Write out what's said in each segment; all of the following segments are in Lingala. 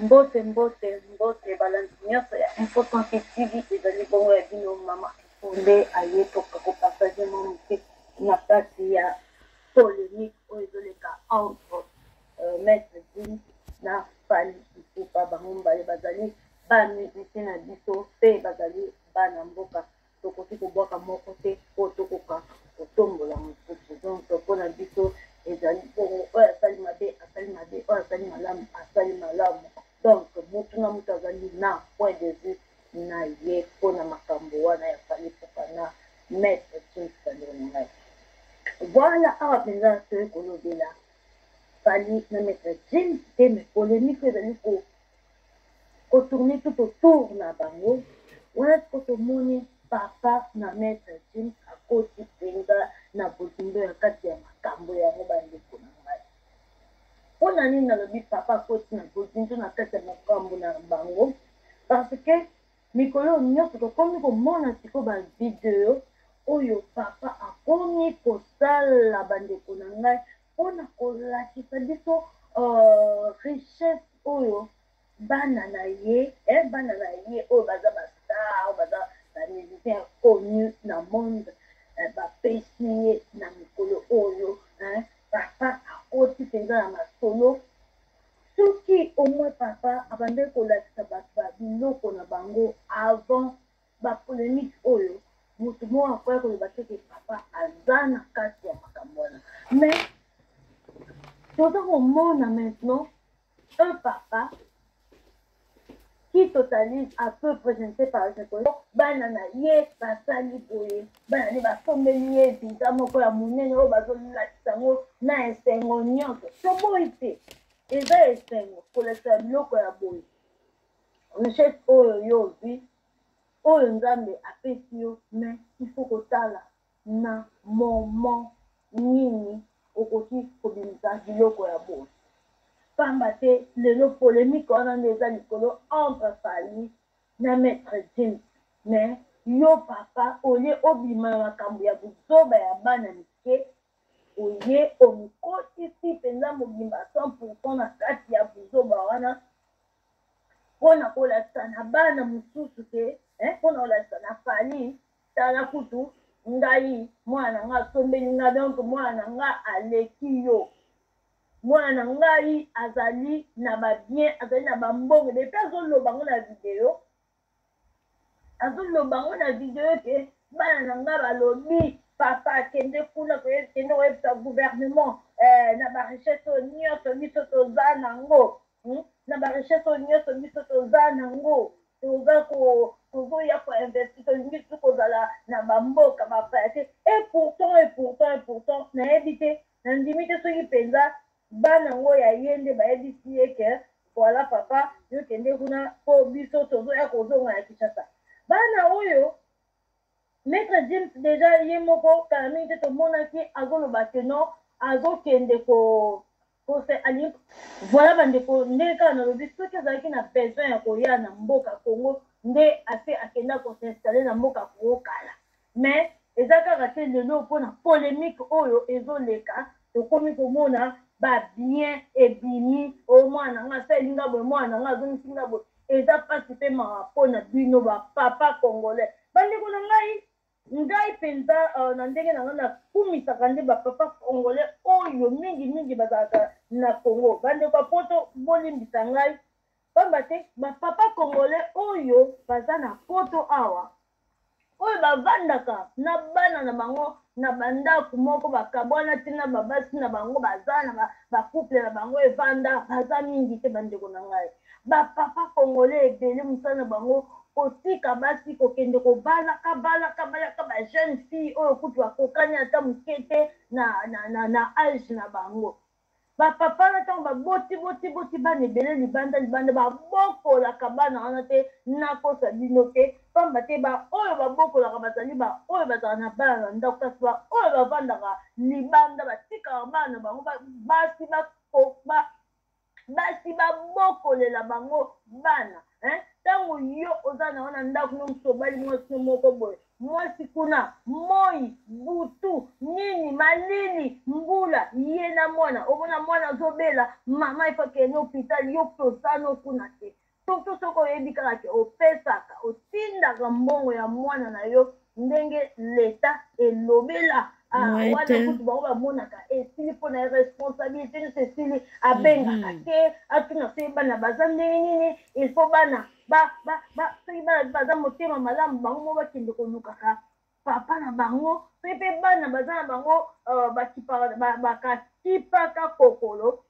Mbote mbote mbote balandi nyonso ya Info 38 TV ezali bongo ya bino mama Nde aye toka kopartage mwa moke na kati ya polemique oyo ezoleka entre euh, maître Jim na Fally Ipupa bango mibale bazali bamiziki na biso mpe bazali bana mboka tokoki kobwaka moko te oyo tokoka kotombola mosusu donc mpo na biso ezali bongo oyo asali mabe asali mabe oyo asali malamu asali malamu donc motu na motu azali na point de vue na ye mpo na makambo wana ya fali kokana maître kinsandelo na ngai voilà awa mpenza toyei kolobela fali na maître james te mais polémique ezali ko ko tourner tout autour na bango wana sikoyo tomoni papa na maître jim akoti mpenza na bozindo ya kati ya makambo yango bandeko na ngai mpo na nini nalobi papa akoti na bozindo na kati ya makambo na bango parce que mikolo nyonso tokomi komona sikoyo bavideo oyo papa akomi kosala bandeko na ngai mpo na kolakisa biso uh, richesse oyo bana na ye eh, bana na ye oyo baza bastar baza bamusicien connu na monde eh, bapesi ye na mikolo oyo eh, papa akoti mpenza na masolo soki omoi papa abandaki kolakisa bato ba biloko na bango avant ba polemique oyo motu moko akoya koloba te ke papa aza na kati ya makambo wana mais toza komona maintenant un papa qui totalise à peu présenté par ekolo bana na ye basali boye bana nde basombeli ye visa moko ya monene oyo bazolakisa yango na esengo nyonso toboyi te eza esengo kolakisa biloko ya boye richesse oyo yo ozwi oyo nzambe apesi yo mais ifo kotala na moment nini okoki kobimisa biloko ya boye pamba te lelo polemike wana nde eza likolo entre fali na maître james mais yo papa olie obima na makambo ya buzoba ya bana mike oye omikotisi mpenza mobimba 100 na kati ya buzoba wana mpona kolakisa na bana mosusu te eh, mpona kolakisa na fali tala kutu ngai mwana nga asombeli nga donc mwana nga aleki yo mwana na ngai azali na babien azali na bambongo depi azoloba ngo na video azoloba yango na video ete bana na ngai balobi papa akende kuna kende koyebisa gouvernement eh, na barichese oyo nyonso biso toza nango hmm? na barichese oyo nyonso biso toza nango toza tozoya koinvesti tolingi tu kozala na bamboka bapaya te epourtant epourtant epourtant nayebi te nandimi te soki mpenza bana ngo ya ye nde bayebisi ye ke voilà papa yo kende kuna mpo biso tozoya kozonga ya kinshasa bana oyo maître james deja ye moko kala mingi te tomonaki azoloba ke non azokende ko kose alingi voilà bandeko ndenge kaka nalobi soki azalaki na besoin ya koya na mboka congo nde ase akenda kosinstalle na mboka congo kala mais eza kaka te lelo mpo na polemique oyo ezoleka tokomi komona babien ebimi o oh, mwana nga asali nga boye mwana nga azongisi nga boye eza mpasi mpe mawa mpo na bino bapapa congolais bandeko na ngai ngai mpenza uh, na ndenge na ngai nakumisaka nde bapapa congolais oyo mingimingi bazalaka na congo bandeko ya poto bolimbisa ngai pamba te bapapa congolais oyo baza na poto awa oyo bavandaka na bana na bango na bandako moko bakabwana te na babasi na bango baza na bacouple na bango evanda baza mingi te bandeko na ngai bapapa kongole ebele mosala na bango kotika basi kokende kobalaka balaka balaka bajeune fille oyo kutu bakokani ata moke te na, na, na, na age na bango bapapa na ntango baboti boti boti bana ebele libanda libanda babokolaka bana wana te nakosa bino te mpamba te baoyo babokolaka bazali baoyo bazala na bana na ndako kasi baoyo bavandaka libanda batikaka bana bango basi basi babokolela bango bana ntango yo oza na wana ndako no mosobali mwasi no moko boye mwasi kuna moi butu nini malili mbula ye na mwana omona mwana azobela mama efakende hopital yo mpe osano kuna te surtout soki oyebi kaka ke opesaka otindaka mbongo ya mwana na yo ndenge leta elobela ah, wana kutu bango bamonaka esili mpo na responsabilité nyonso esili abengaka mhm. te atuna se bana baza ndenge nini ilfaut bana ba ba ba soki bana mpe baza motema malamu bango moko bakende kolukaka papa na bango soki mpe bana baza na bango euh, bakakipaka kokolo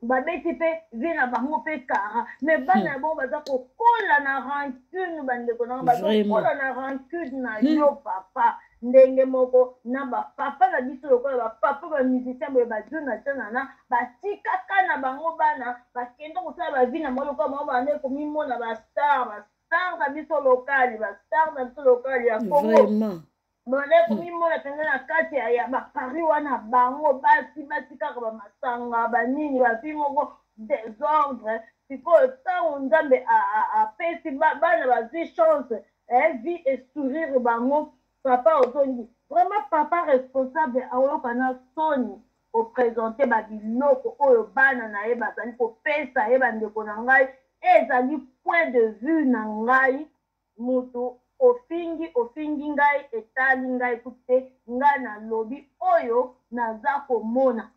babeti mpe vie na bango mpe kara mais bana hmm. ya bango baza kokola na rancune bandeko na bango bazakokola na rancune na hmm. yo papa ndenge moko na bapapa na biso lokola bapapa bamusicien boye bajonathan nana batikaka na bango bana bakenda kosala bavi na bango lokola bango banda ekomimona bastar bastar na biso lokali bastar na biso lokali ya kongo banda ekomimona mpenza na kati ya bapari wana bango basi basi kaka bamasanga banini bavi moko desordre sikoyo ntango nzambe apesi bana bazwi chance eh vie estourire bango papa ozongi vraiment papa responsable aoyoka na soni kopresente babiloko oyo bana na ye bazali kopesa ye bandeko na ngai ezali point de vue na ngai moto ofingi ofingi ngai etali ngai kutu te ngai nalobi oyo naza komona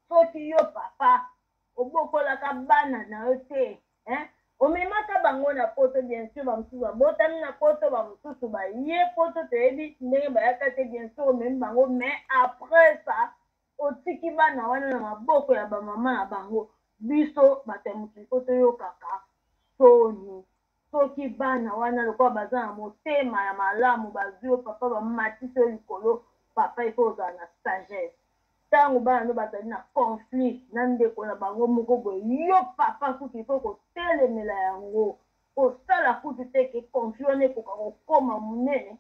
soki yo papa obokolaka bana na yo te hein? omemaka bango na poto bien sûr bamosusu babotami na poto bamosusu baye poto toyebi ndenge bayaka te bien sûr omemi bango mais après ça otiki bana wana na maboko ya bamama na bango biso bato ya mokili po toyokaka soni soki bana wana lokola baza na motema ya malamu bazwi yo papa bamatisi yo likolo papa il faut ozala na sagesse ntango bana no bazali na conflit na ndeko na bango moko boye yo papa kutu il faut kotelemela yango kosala kutu te ke conflit wana ekoka kokoma monene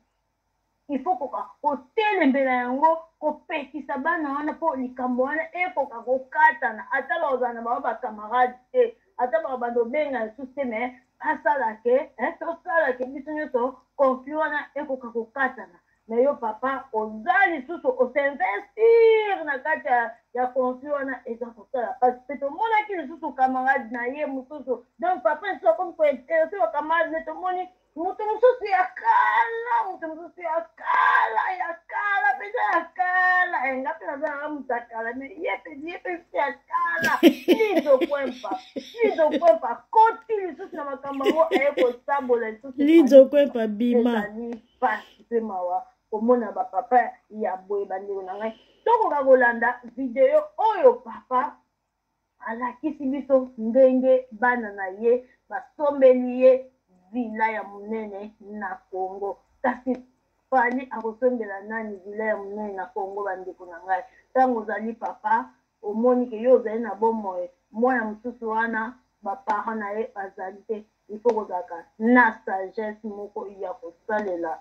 il faut koka kotelembela yango kopekisa bana wana mpo likambo wana ekoka kokatana ata bakozala na bango bacamarade te ata bakobanda obenga lisusu te me asala ke eh, tosala ke biso nyonso konfli wana ekoka kokatana me yo papa oza lisusu osinvestir na kati ya konfli wana eza kosala mpasi mpe tomonaki lisusu camarade na ye mosusu donc papa lisusu akomi kointerese bakamarade ne tomoni moto mosusu ya kala moto mosusu ya kala ya kala mpenza ya kala enga mpe nazalaka moto ya kala me ye mpenza ye mpenza ya kala lizokwempa lizokwempa koti lisusu na makambo yango aye kosabola lisusu lizokwempa bima ezali mpasi mpe mawa komona bapapa ya boye bandeko na ngai tokoka kolanda video oyo papa alakisi biso ndenge bana na ye basombeli ye vila ya monene na congo kasi fali akosombela nani vila ya monene na congo bandeko na ngai ntango ozali papa omoni ke yo ozali na bomoi mwana mosusu wana baparent na ye bazali te ifo kozalaka na sagesse moko ya kosalela